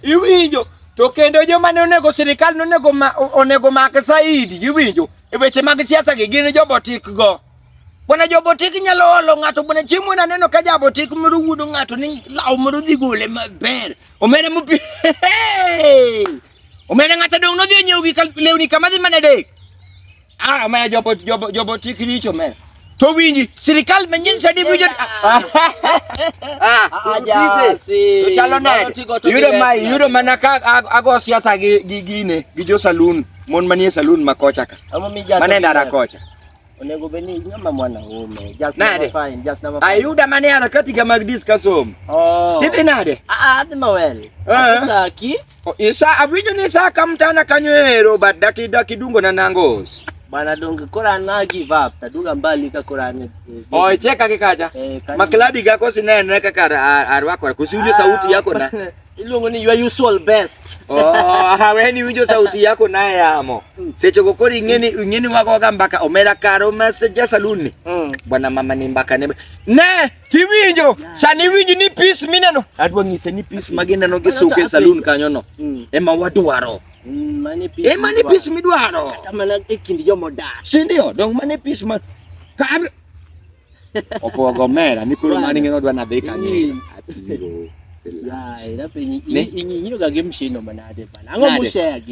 iwinjo to kendo joma ne onego sirikal ne onego onego mak saidi iwinjo e weche mag siasa gi gin jobotik go bwana jobotik nyalo olo ng'ato bwana chiemo na neno ka jabotik moro wuodo ng'ato ni law moro dhi gole maber omere mupi omere ng'ato dong' nodhi onyiewo gi lewni kama dhi mana dek Ah, omera jobo jobo jobo tik richo omera. To winji, sirikal manyien sadi winjo. Ah, utise. To chalo nade? Yudo ma yudo mana ka ago siasa gi gi gine gi jo saloon, mon manie saloon ma kocha ka. Mane ndara kocha. Onego bed ni nyama mwana ume. Just nade? Fine, just number fine. Ayuda mane harakati ga mag discuss home. Oh. Tidhi nade? Ah, ah adhi mawel. Eh. Sasa ki Isa awinjo ni sa ka mtana kanyo ero but daki daki dungo na nangos. Bana donge kora na give up taduga mbali ka kora ne. Oi cheka ke kacha. Eh, kanyo- Makladi gako sinene kaka ar- arwako kusiwinjo sauti yako na. Iluongo ni your usual best. Oh, haweni winjo sauti yako naye amo. Seche go kori ingeni ingeni wako ga mbaka omera karo message ya saluni. Mm. Bwana mama ni mbaka ne. Ne Kiwinjo, sani winji ni pis mineno. Adwa ng'ise ni pis ma gineno gi suke saloon kanyo no. Mm. Ema wadwaro. Mm, mane pis. E mane pis midwaro. Kata mana e kind joma odak. Si ndio, dong mane pis ma kar opogo mera ni koro mani ng'eno dwa nadhi kanyo. Mm. Atiro. Yai, na penyi. Inyiroga gi mshino manade bana. Ang'o mushare gi?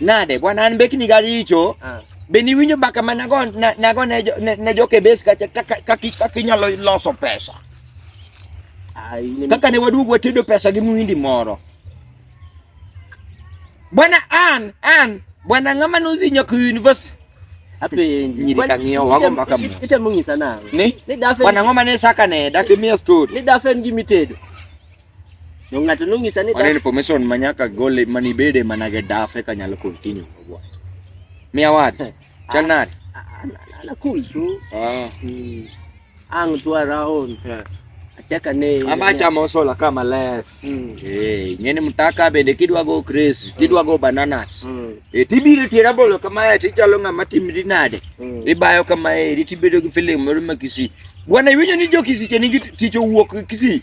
Nade bwana, an beki ni garicho. Ah. Be ni winjo baka mana go na, na go ne ne, ne joke bes ka ka ki nyalo loso pesa. Ai ni kaka ne waduog watedo pesa gi muindi moro. Bwana an an bwana ngama no dhi nyaka university. Ape nyiri ka ngiyo wago mbaka mo. Ite mungisa na. Ni? Ni dafe. Bwana ngoma ne saka ne dak mi story. Ni dafe ngi mitedo. No ng'ato nong'isa ni Mano information ma nyaka gole mani bede mana ge daf eka nyalo continue kogwa. Mia words. Eh, Chal ah, nade? Ah, ah, na cool tu. Ah. Hmm. Ang tu around. Eh. Achaka ne. Ama chamo sola kama less. Hmm. Eh, ngene mtaka bende kidwa go Chris, hmm. kidwa go bananas. E tibiro tira bolo kama ya tichalo ng'ama timri nade. Ibayo kama e tibedo gi feeling moro makisi. Bwana iwinjo ni jo kisi chenigi ticho wuok kisi.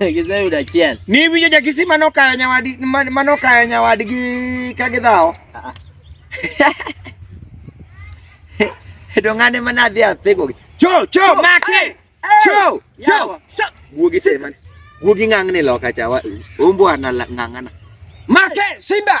Giseyudo achiel. Ni winjo ja Kisii mano kayo nyawadi mano kayo nyawadgi ka gidhawo. Ah, ah. To ng'ane ma nadhi athego. Cho cho make. Cho cho. Guogi sema. Guogi ng'ang'ne loka cha. Umbwa na ng'ang'ana. Make Simba.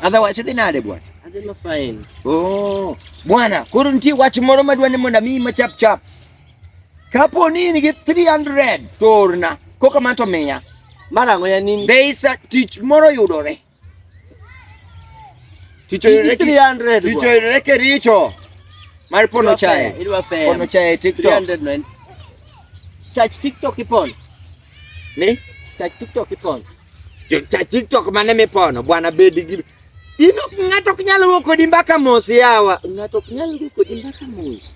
Otherwise sitting at the what? I didn't find. Oh, bwana, couldn't you watch more mad when mona me my chap chap? Kapo nini get 300 torna. Koka manto meya. Mara ngoya nini? They is a teach moro yudore. Ticho yudore 300. Ticho yudore kericho. Mar pono chai. Pono chai TikTok. 300 man. Church TikTok ipon. Ni cha TikTok ipono. Jo cha TikTok mane mipono bwana bedi gi Ino ng'ato ok nyal wuok kodi mbaka mos yawa. Ng'ato ok nyal wuok kodi mbaka mos.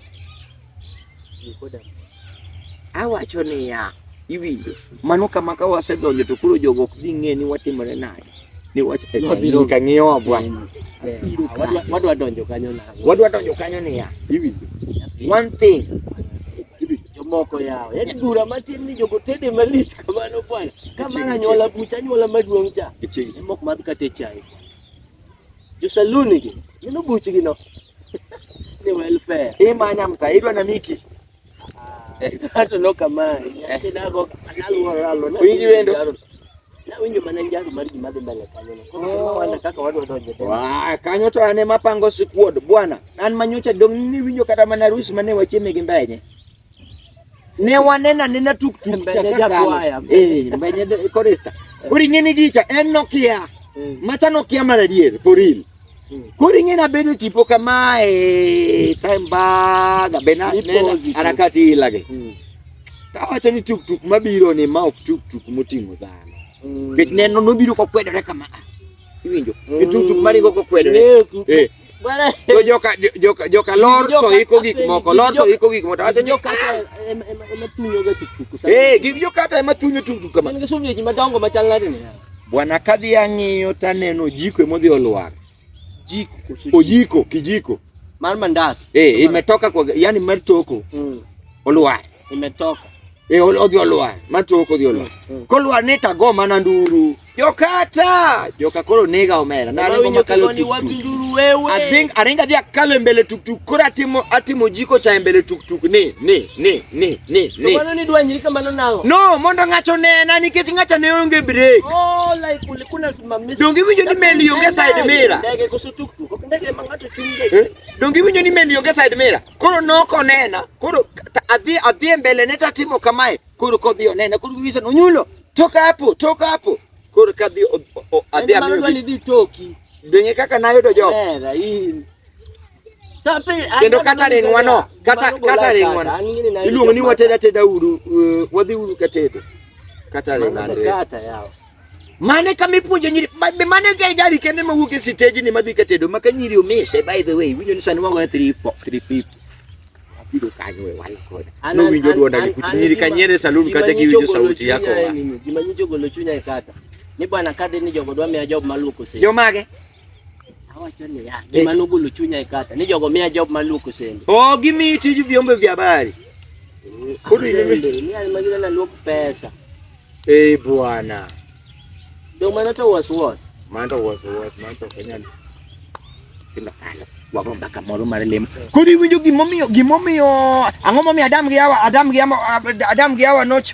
Awacho niya, iwinjo. Mano kama ka wasedonjo to koro jogo ok dhi ng'e ni watimore nade. ni wacha eh, Wabiro- ni kang'iyo wa bwana Eh, Biro wadwa- kae. wadwa donjo kanyo na wadwa donjo kanyo niya iwinjo one thing jomoko yawo yani bura matin ni jogo tede malich kamano bwana ka Iching, mar anyuola bucha anyuola maduong' cha iching en mok madh kate chai josaluni gi gino buchgi no ni welfare imanya mta idwa na miki Ng'ato no kamae. Nyathi nago analuoro alona. Winji wendo. Nawinjo mana njaro mar gima dhi mbele kanyo. Koro kaka wadwa donjo. Waa, kanyo to ane mapango sikuod bwana. An manyocha dong ni winjo kata mana rusi mane wachieme gi mbenye. Ne wanena nena tuk tuk cha kaka. Eh, mbenye korista. Kuri ngini gicha en Nokia. Mm. Macha Nokia mar adier for real. Koro ing'e na bedo tipo kamae time baga be na harakati ilage. Mm. Tawacho ni tuk tuk mabiro ni ma ok tuk tuk moting'o dhano. Mm. Kech neno nobiro kokwedore kama. Ah, iwinjo? Mm. Tuk tuk maringo kokwedore. Eh. eh. To joka joka joka lor to iko gik moko, lor to iko gik moko. Tawacho ni joka ah. ema thunyo ga tuk tuk. Eh, gik joka ema thunyo tuk tuk kama. En ga sumni ji madongo machal nade ni. Bwana kadhi ang'iyo taneno jiko emodhi olwar. Jiko kusu. Ojiko kijiko. Mar mandas. Eh, imetoka kwa yani mar toko. Mm. Olwar. Imetoka. Eh, odhi olwar. Mar toko odhi olwar. Mm. Mm. Kolwar ni tago mana nduru. Jokata. Joka koro nega omera. Na ringo makalo tuktuk. Wapi nduru wewe? I think aringa dhia kalo mbele tuktuk. Kora atimo atimo jiko cha mbele tuktuk ni ni. ni ni ni ni mano ni dwanyri kamano nang'o no mondo ng'ato nena nikech ng'ato ne onge break oh like ulikuna simamisha donge iwinjo ni meli onge side mirror ndege koso tuktuk ok ndege ma ng'ato chung' ndege eh? donge iwinjo ni meli onge side mirror koro nok onena koro adhi adhi e mbele ne tatimo kamae koro kodhi onena koro wiwisa nonyulo toka hapo toka hapo koro kadhi adhi amiyo dhi toki donge kaka nayudo jogo kendo kata ringwa no kata kata ringwa iluongo ni wateda teda uru uh, wadhi uru katedo kata ringwa kata yawa mane kama ipuonjo nyiri mane ga gari kende ma wuok e stage ni madhi katedo maka nyiri omise by the way winjo ni sani wago 3 350 abido kanyo we wal koda no winjo duonda ni kuti nyiri kanyere salon kaja gi winjo sauti yako wa gima nyicho golo chunya e kata ni bwana kadhi ni jogo dwa miya job maluoko stage jomage Awacho ni ya, gima nogolo chunya e kata ni jogo miya job maluoko sende. Oh, gimi tiju vyombo vya habari. Kudu ni mimi ni alimagina na luoko pesa. Eh, bwana. Ndio maana to was what? Maana to was what? Maana to kanyana. Kila kala. Wako mpaka moro mare lem. Kudu winjo gimomiyo gimomiyo ang'o momiyo Adam gi Hawa Adam gi Hawa Adam gi Hawa noch